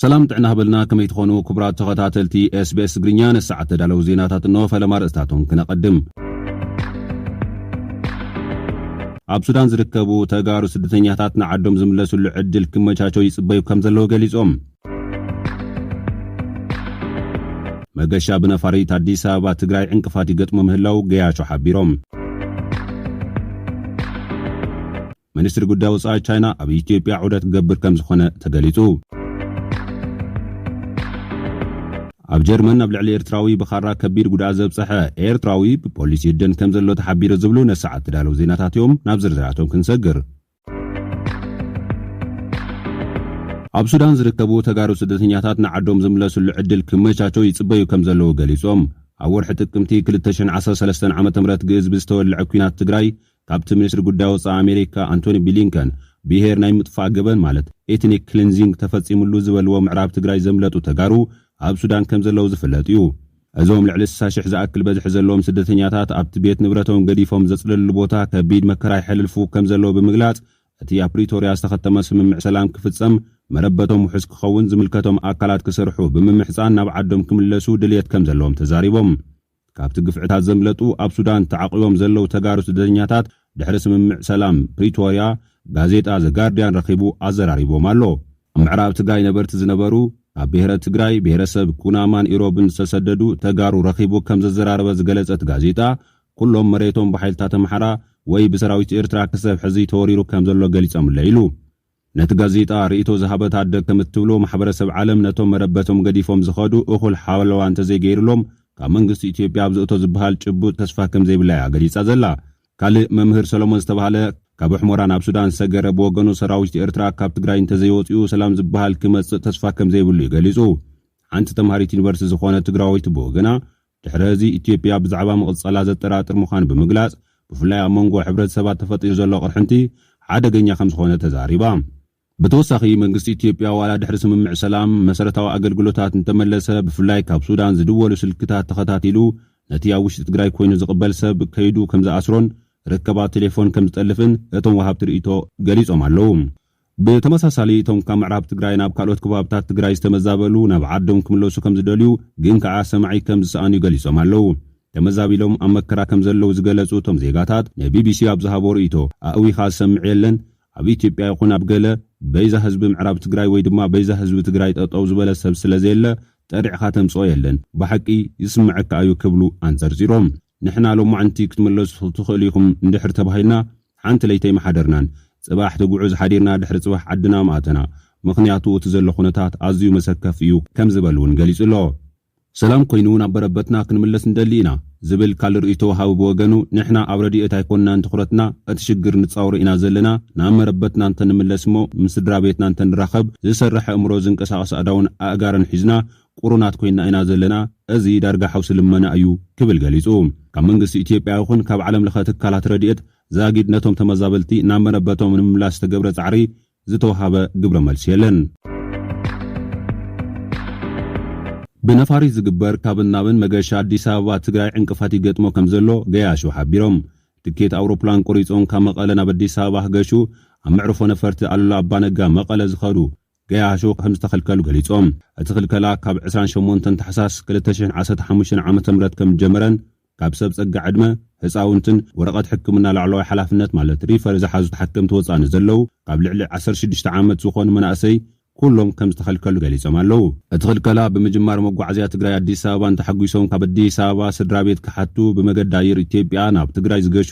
ሰላም ጥዕና ሃበልና ከመይ ትኾኑ ክቡራት ተኸታተልቲ ኤስቤስ ትግርኛ ነሰዓት ተዳለዉ ዜናታት እንሆ ፈለማ ርእስታቶም ክነቐድም ኣብ ሱዳን ዝርከቡ ተጋሩ ስደተኛታት ንዓዶም ዝምለስሉ ዕድል ክመቻቾ ይጽበዩ ከም ዘለዉ ገሊጾም። መገሻ ብነፋሪት ኣዲስ ኣበባ ትግራይ ዕንቅፋት ይገጥሞ ምህላው ገያሾ ሓቢሮም። ሚኒስትሪ ጉዳይ ወፃኢ ቻይና ኣብ ኢትዮጵያ ዑደት ክገብር ከም ዝኾነ ተገሊፁ። ኣብ ጀርመን ኣብ ልዕሊ ኤርትራዊ ብኻራ ከቢድ ጉድኣት ዘብፀሐ ኤርትራዊ ብፖሊስ ይህደን ከም ዘሎ ተሓቢሩ ዝብሉ ነሰዓት ተዳለዉ ዜናታት እዮም። ናብ ዝርዝራቶም ክንሰግር። ኣብ ሱዳን ዝርከቡ ተጋሩ ስደተኛታት ንዓዶም ዝምለስሉ ዕድል ክመቻቸው ይፅበዩ ከም ዘለዉ ገሊፆም። ኣብ ወርሒ ጥቅምቲ ክልተ ሽሕን ዓሰርተ ሰለስተን ዓመተ ምህረት ግእዝ ብዝተወልዐ ኲናት ትግራይ ካብቲ ሚኒስትሪ ጉዳይ ወፃኢ ኣሜሪካ ኣንቶኒ ቢሊንከን ብሄር ናይ ምጥፋእ ገበን ማለት ኤትኒክ ክሊንዚንግ ተፈፂምሉ ዝበልዎ ምዕራብ ትግራይ ዘምለጡ ተጋሩ ኣብ ሱዳን ከምዘለዉ ዝፍለጥ እዩ። እዞም ልዕሊ ስሳ ሽሕ ዝኣክል በዝሒ ዘለዎም ስደተኛታት ኣብቲ ቤት ንብረቶም ገዲፎም ዘፅለልሉ ቦታ ከቢድ መከራ የሕልልፉ ከምዘለዉ ብምግላፅ እቲ ኣብ ፕሪቶሪያ ዝተኸተመ ስምምዕ ሰላም ክፍፀም መረበቶም ውሑስ ክኸውን ዝምልከቶም ኣካላት ክሰርሑ ብምምሕፃን ናብ ዓዶም ክምለሱ ድልየት ከምዘለዎም ተዛሪቦም። ካብቲ ግፍዕታት ዘምለጡ ኣብ ሱዳን ተዓቝቦም ዘለዉ ተጋሩ ስደተኛታት ድሕሪ ስምምዕ ሰላም ፕሪቶርያ ጋዜጣ ዘ ጋርድያን ረኺቡ ኣዘራሪቦም ኣሎ። ኣብ ምዕራብ ትግራይ ነበርቲ ዝነበሩ ካብ ብሄረ ትግራይ፣ ብሄረሰብ ኩናማን ኢሮብን ዝተሰደዱ ተጋሩ ረኺቡ ከም ዘዘራረበ ዝገለጸ እቲ ጋዜጣ፣ ኩሎም መሬቶም ብሓይልታት ኣምሓራ ወይ ብሰራዊት ኤርትራ ክሰብ ሕዚ ተወሪሩ ከም ዘሎ ገሊጾምለይ ኢሉ። ነቲ ጋዜጣ ርእይቶ ዝሃበት ኣደ ከም እትብሎ፣ ማሕበረሰብ ዓለም ነቶም መረበቶም ገዲፎም ዝኸዱ እኹል ሓለዋ እንተዘይገይርሎም ካብ መንግስቲ ኢትዮጵያ ኣብዚ እቶ ዝበሃል ጭቡጥ ተስፋ ከም ዘይብላ እያ ገሊጻ ዘላ። ካልእ መምህር ሰሎሞን ዝተባህለ ካብ ሑሞራ ናብ ሱዳን ዝሰገረ ብወገኑ ሰራዊት ኤርትራ ካብ ትግራይ እንተዘይወጺኡ ሰላም ዝበሃል ክመጽእ ተስፋ ከም ዘይብሉ እዩ ገሊጹ። ሓንቲ ተምሃሪት ዩኒቨርሲቲ ዝኾነት ትግራወይቲ ብወገና ድሕሪ እዚ ኢትዮጵያ ብዛዕባ ምቕጻላ ዘጠራጥር ምዃኑ ብምግላጽ፣ ብፍላይ ኣብ መንጎ ሕብረተሰባት ተፈጢሩ ዘሎ ቅርሕንቲ ሓደገኛ ከምዝኾነ ተዛሪባ። ብተወሳኺ መንግስቲ ኢትዮጵያ ዋላ ድሕሪ ስምምዕ ሰላም መሰረታዊ ኣገልግሎታት እንተመለሰ ብፍላይ ካብ ሱዳን ዝድወሉ ስልክታት ተኸታቲሉ ነቲ ኣብ ውሽጢ ትግራይ ኮይኑ ዝቕበል ሰብ ከይዱ ከምዝኣስሮን ርክባት ቴሌፎን ከምዝጠልፍን እቶም ወሃብቲ ርእይቶ ገሊጾም ኣለዉ። ብተመሳሳሊ እቶም ካብ ምዕራብ ትግራይ ናብ ካልኦት ከባብታት ትግራይ ዝተመዛበሉ ናብ ዓዶም ክምለሱ ከምዝደልዩ ግን ከኣ ሰማዒ ከምዝሰኣኑ ገሊጾም ኣለዉ። ተመዛቢሎም ኣብ መከራ ከምዘለዉ ዝገለጹ እቶም ዜጋታት ንቢቢሲ ኣብ ዝሃብዎ ርእይቶ ኣእዊኻ ዝሰምዕ የለን፣ ኣብ ኢትዮጵያ ይኹን ኣብ ገለ በይዛ ህዝቢ ምዕራብ ትግራይ ወይ ድማ በይዛ ህዝቢ ትግራይ ጠጠው ዝበለ ሰብ ስለዘየለ ጠሪዕኻ ተምጽኦ የለን፣ ብሓቂ ይስመዐካ እዩ ክብሉ ኣንጸርጺሮም። ንሕና ሎማዕንቲ ክትምለሱ ትኽእሉ ኢኹም እንድሕር ተባሂልና ሓንቲ ለይቲ ኣይምሓደርናን። ጽባሕ ትጉዕዝ ሓዲርና ድሕሪ ጽባሕ ዓድና ምኣተና። ምኽንያቱ እቲ ዘሎ ኩነታት ኣዝዩ መሰከፊ እዩ ከም ዝበል'ውን ገሊጹ ኣሎ። ሰላም ኮይኑ ናብ በረበትና ክንምለስ ንደሊ ኢና ዝብል ካልእ ርእይቶ ወሃቢ ብወገኑ፣ ንሕና ኣብ ረድኤት ኣይኮናን ትኹረትና፣ እቲ ሽግር ንጻወሮ ኢና ዘለና፣ ናብ መረበትና እንተንምለስ እሞ ምስ ስድራቤትና እንተንራኸብ፣ ዝሰርሕ ኣእምሮ፣ ዝንቀሳቐስ ኣእዳውን ኣእጋርን ሒዝና ቁሩናት ኮይና ኢና ዘለና፣ እዚ ዳርጋ ሓውሲ ልመና እዩ ክብል ገሊጹ። ካብ መንግስቲ ኢትዮጵያ ይኹን ካብ ዓለም ለኸ ትካላት ረድኤት ዛጊድ ነቶም ተመዛበልቲ ናብ መረበቶም ንምምላስ ዝተገብረ ጻዕሪ ዝተውሃበ ግብረ መልሲ የለን። ብነፋሪት ዝግበር ካብን ናብን መገሻ ኣዲስ ኣበባ ትግራይ ዕንቅፋት ይገጥሞ ከምዘሎ ገያሾ ሓቢሮም። ትኬት ኣውሮፕላን ቆሪጾም ካብ መቐለ ናብ ኣዲስ ኣበባ ክገሹ ኣብ መዕርፎ ነፈርቲ ኣሉላ ኣባነጋ መቐለ ዝኸዱ ገያሾ ከም ዝተኸልከሉ ገሊጾም። እቲ ክልከላ ካብ ዕስራን ሸሞንተን ታሕሳስ ክልተ ሽሕን ዓሰርተ ሓሙሽተን ዓመተ ምህረት ከም ዝጀመረን ካብ ሰብ ጸጋ ዕድመ፣ ህጻውንትን ወረቐት ሕክምና ላዕለዋይ ሓላፍነት ማለት ሪፈር ዝሓዙ ተሓከምቲ ወጻኢ ንዘለዉ ካብ ልዕሊ ዓሰርተ ሽዱሽተ ዓመት ዝኾኑ መናእሰይ ኩሎም ከም ዝተኸልከሉ ገሊጾም ኣለዉ። እቲ ክልከላ ብምጅማር መጓዓዝያ ትግራይ ኣዲስ ኣበባን ተሓጒሶም ካብ ኣዲስ ኣበባ ስድራቤት ክሓቱ ብመገዲ ኣየር ኢትዮጵያ ናብ ትግራይ ዝገሹ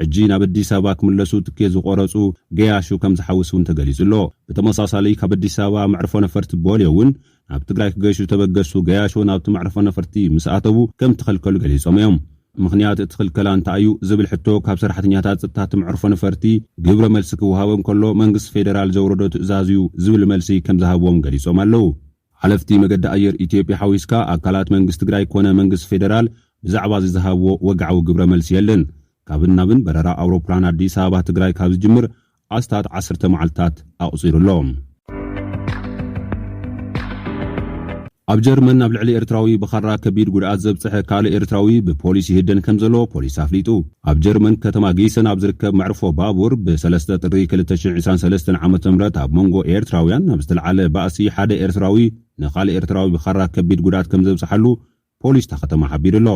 ሕጂ ናብ ኣዲስ ኣበባ ክምለሱ ትኬት ዝቖረጹ ገያሹ ከም ዝሓውስ'ውን ተገሊጹ'ሎ። ብተመሳሳሊ ካብ ኣዲስ ኣበባ መዕርፎ ነፈርቲ ቦሌ'ውን ናብ ትግራይ ክገሹ ዝተበገሱ ገያሾ ናብቲ መዕርፎ ነፈርቲ ምስ ኣተዉ ከም እተኸልከሉ ገሊጾም'ዮም። ምኽንያት እቲ ክልከላ እንታይ'ዩ ዝብል ሕቶ ካብ ሰራሕተኛታት ጸጥታ እቲ መዕርፎ ነፈርቲ ግብረ መልሲ ክወሃቦም ከሎ መንግስቲ ፌደራል ዘውረዶ ትእዛዝ'ዩ ዝብል መልሲ ከም ዝሃብዎም ገሊጾም ኣለዉ። ሓለፍቲ መገዲ ኣየር ኢትዮጵያ ሓዊስካ ኣካላት መንግስቲ ትግራይ ኮነ መንግስቲ ፌደራል ብዛዕባ እዚ ዝሃብዎ ወግዓዊ ግብረ መልሲ የለን። ካብን ናብን በረራ ኣውሮፕላን ኣዲስ ኣበባ ትግራይ ካብ ዝጅምር ኣስታት ዓሰርተ መዓልትታት ኣቑፂሩ ኣሎ። ኣብ ጀርመን ናብ ልዕሊ ኤርትራዊ ብኻራ ከቢድ ጉድኣት ዘብፀሐ ካልእ ኤርትራዊ ብፖሊስ ይህደን ከምዘሎ ፖሊስ ኣፍሊጡ። ኣብ ጀርመን ከተማ ጊሰን ኣብ ዝርከብ መዕርፎ ባቡር ብ ሰለስተ ጥሪ ክልተ ሽሕ ዒስራን ሰለስተን ዓመተ ምህረት ኣብ መንጎ ኤርትራውያን ኣብ ዝተልዓለ ባእሲ ሓደ ኤርትራዊ ንኻልእ ኤርትራዊ ብኻራ ከቢድ ጉድኣት ከምዘብጽሓሉ ፖሊስ እታ ከተማ ሓቢሩ'ሎ።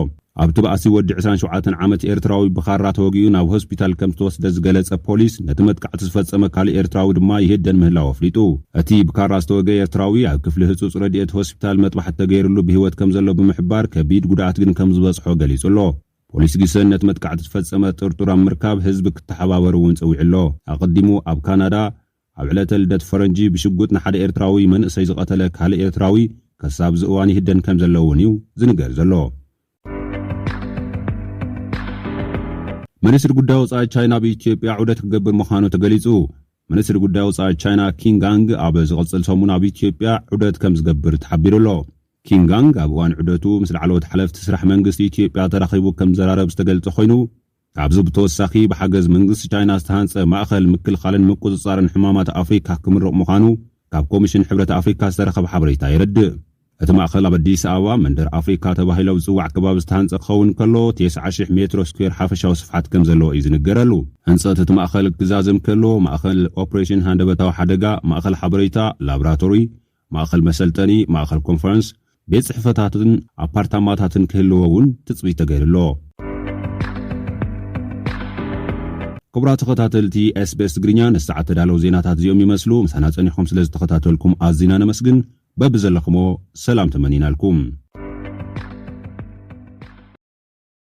ኣብቲ ባእሲ ወዲ ዕስራን ሸውዓተን ዓመት ኤርትራዊ ብኻራ ተወጊኡ ናብ ሆስፒታል ከምዝተወስደ ዝገለጸ ፖሊስ ነቲ መጥቃዕቲ ዝፈጸመ ካልእ ኤርትራዊ ድማ ይህደን ምህላው ኣፍሊጡ። እቲ ብካራ ዝተወግኤ ኤርትራዊ ኣብ ክፍሊ ህጹጽ ረድኤት ሆስፒታል መጥባሕቲ ተገይርሉ ብህይወት ከምዘሎ ብምሕባር ከቢድ ጉድኣት ግን ከምዝበጽሖ ገሊጹ'ሎ። ፖሊስ ጊሰን ነቲ መጥቃዕቲ ዝፈጸመ ጥርጡር ኣብ ምርካብ ህዝቢ ክተሓባበር እውን ጸዊዑ ኣሎ። ኣቐዲሙ ኣብ ካናዳ ኣብ ዕለተ ልደት ፈረንጂ ብሽጉጥ ንሓደ ኤርትራዊ መንእሰይ ዝቐተለ ካልእ ኤርትራዊ ከሳብ እዚ እዋን ይህደን ከምዘሎ እውን እዩ ዝንገር ዘሎ። ሚኒስትሪ ጉዳይ ወጻኢ ቻይና ኣብ ኢትዮጵያ ዑደት ክገብር ምዃኑ ተገሊጹ። ሚኒስትሪ ጉዳይ ወጻኢ ቻይና ኪንግ ኣንግ ኣብ ዝቕጽል ሰሙን ኣብ ኢትዮጵያ ዑደት ከምዝገብር ተሓቢሩ ኣሎ። ኪም ጋንግ ኣብ እዋን ዑደቱ ምስ ላዕለዎት ሓለፍቲ ስራሕ መንግስቲ ኢትዮጵያ ተራኺቡ ከምዘራረብ ዝተገልጸ ኮይኑ፣ ካብዚ ብተወሳኺ ብሓገዝ መንግስቲ ቻይና ዝተሃንጸ ማእኸል ምክልኻልን ምቁጽጻርን ሕማማት ኣፍሪካ ክምርቕ ምዃኑ ካብ ኮሚሽን ሕብረት ኣፍሪካ ዝተረኸበ ሓበሬታ የረድእ። እቲ ማእኸል ኣብ ኣዲስ ኣበባ መንደር ኣፍሪካ ተባሂሉ ኣብ ዝፅዋዕ ከባቢ ዝተሃንጸ ክኸውን እንከሎ ቴስዓ ሽሕ ሜትሮ ስኩዌር ሓፈሻዊ ስፍሓት ከምዘለዎ እዩ ዝንገረሉ። ህንፀት እቲ ማእኸል ክዛዘም ከሎ ማእኸል ኦፕሬሽን ሃንደበታዊ ሓደጋ፣ ማእኸል ሓበሬታ፣ ላብራቶሪ፣ ማእኸል መሰልጠኒ፣ ማእኸል ኮንፈረንስ፣ ቤት ፅሕፈታትን ኣፓርታማታትን ክህልዎ እውን ትፅቢት ተገይሩ ኣሎ። ክቡራት ተኸታተልቲ SBS ትግርኛ ነዚ ሰዓት ተዳለው ዜናታት እዚኦም ይመስሉ። ምሳና ፀኒሕኹም ስለ ዝተኸታተልኩም ኣዚና ነመስግን። በብዘለኽሞ ሰላም ተመኒናልኩም።